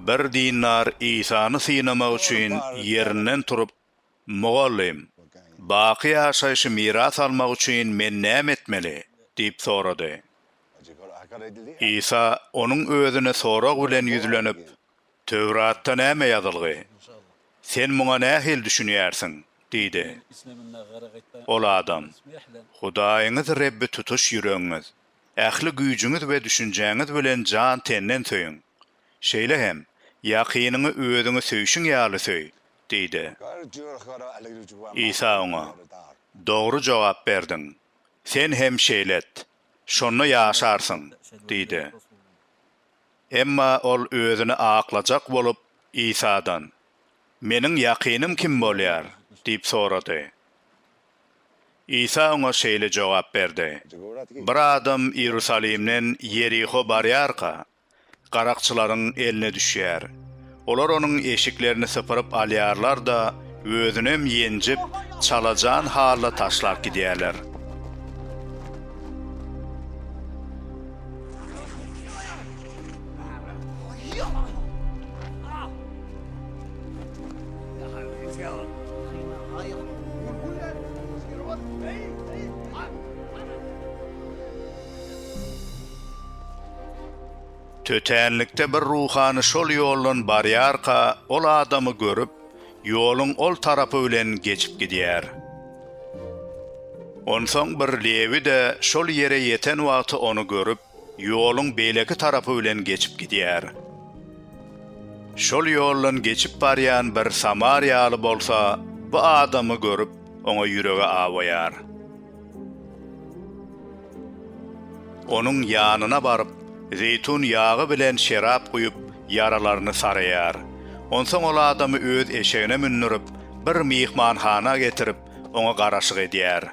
Bir dindar Isany synamak üçin ýerinden turup, Mugallym, baky ýaşaýşy miras almak üçin men näme etmeli? diýip sorady. Isa onuň özüne sorag bilen ýüzlenip, Töwratda näme ýazylgy? Sen muňa nähili düşünýärsiň? diýdi. Ol adam, Hudaýyňyz Rebbi tutuş ýüregiňiz, ähli güýjüňiz we düşünjäňiz bilen jan-tenden söýüň. Şeýle hem, ýakynyňy özüňi söýşüň ýaly söý diýdi. Isa oňa, Dogry jogap berdiň. Sen hem şeýle et, şonda ýaşarsyň diýdi. Emma ol özüni aklajak bolup, Isadan, Meniň ýakynym kim bolýar? diýip sorady. Isa oňa şeýle jogap berdi, Bir adam Iýerusalimden Ýeriho barýarka, garakçylaryň eline düşýär. Olar onuň eşiklerini sypyryp alýarlar-da, özünem ýenjip, çalajan halda taşlap gidýärler. Tötänlikde bir ruhany şol ýoldan barýarka, ol adamy görüp, ýoluň ol tarapy bilen geçip gidýär. Onsoň bir lewi-de şol ýere ýeten wagty ony görüp, ýoluň beýleki tarapy bilen geçip gidýär. Şol ýoldan geçip barýan bir samariýaly bolsa bu adamy görüp, oňa ýüregi awaýar. Onuň ýanyna baryp, zeýtun ýagy bilen şerap guýup, ýaralaryny saraýar. Onsoň ol adamy öz eşegine mündürip, bir myhmanhana getirip, oňa garaşyk edýär.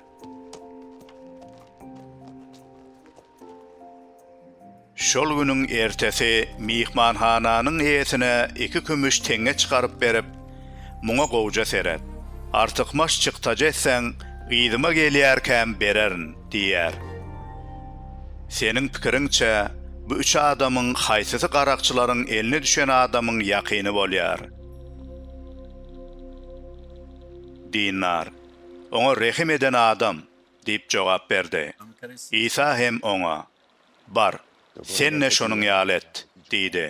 Şol günüň ertesi myhmanhananyň eýesine iki kümüş teňňe çykaryp berip, Muňa gowja seret. Artykmaç çykdajy etseň, yzyma gelýärkäm bererin, diýýär. Seniň pikiriňçe, bu üç adamyň haýsysy garakçylaryň eline düşen adamyň ýakyny bolýar? Dinnar. Oňa rehim eden adam. diýip jogap berdi. Isa hem oňa, Bar, sen-de şonuň ýaly et diýdi.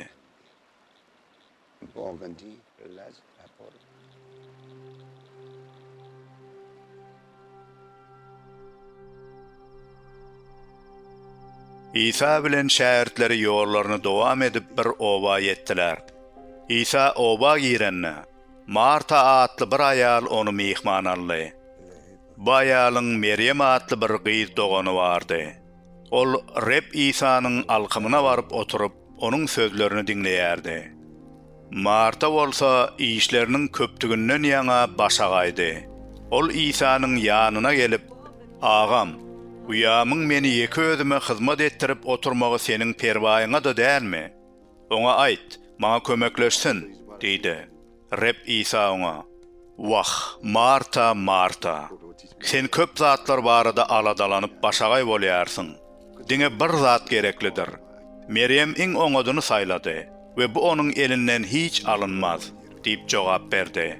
Isa bilen şägirtleri ýollaryny dowam edip bir oba ýetdiler. Isa oba girende, Marta atly bir aýal ony myhman aldy. Bu aýalyň Merýem atly bir gyz dogany bardy. Ol Reb Isanyň alkymyna baryp oturyp, onuň sözlerini diňleýärdi. Marta bolsa işleriniň köpdüginden ýaňa başagaýdy. Ol Isanyň ýanyna gelip, Agam, uýamyň meni ýeke özüme hyzmat etdirip oturmagy seniň perwaýyňa-da dälmi? Oňa aýt, maňa kömekleşsin! diýdi. Reb Isa oňa, Wah, Marta, Marta! Sen köp zatlar barada aladalanyp başagaý bolýarsyň. Diňe bir zat gereklidir. Merýem iň oňadyny saýlady we bu onuň elinden hiç alynmaz diýip jogap berdi.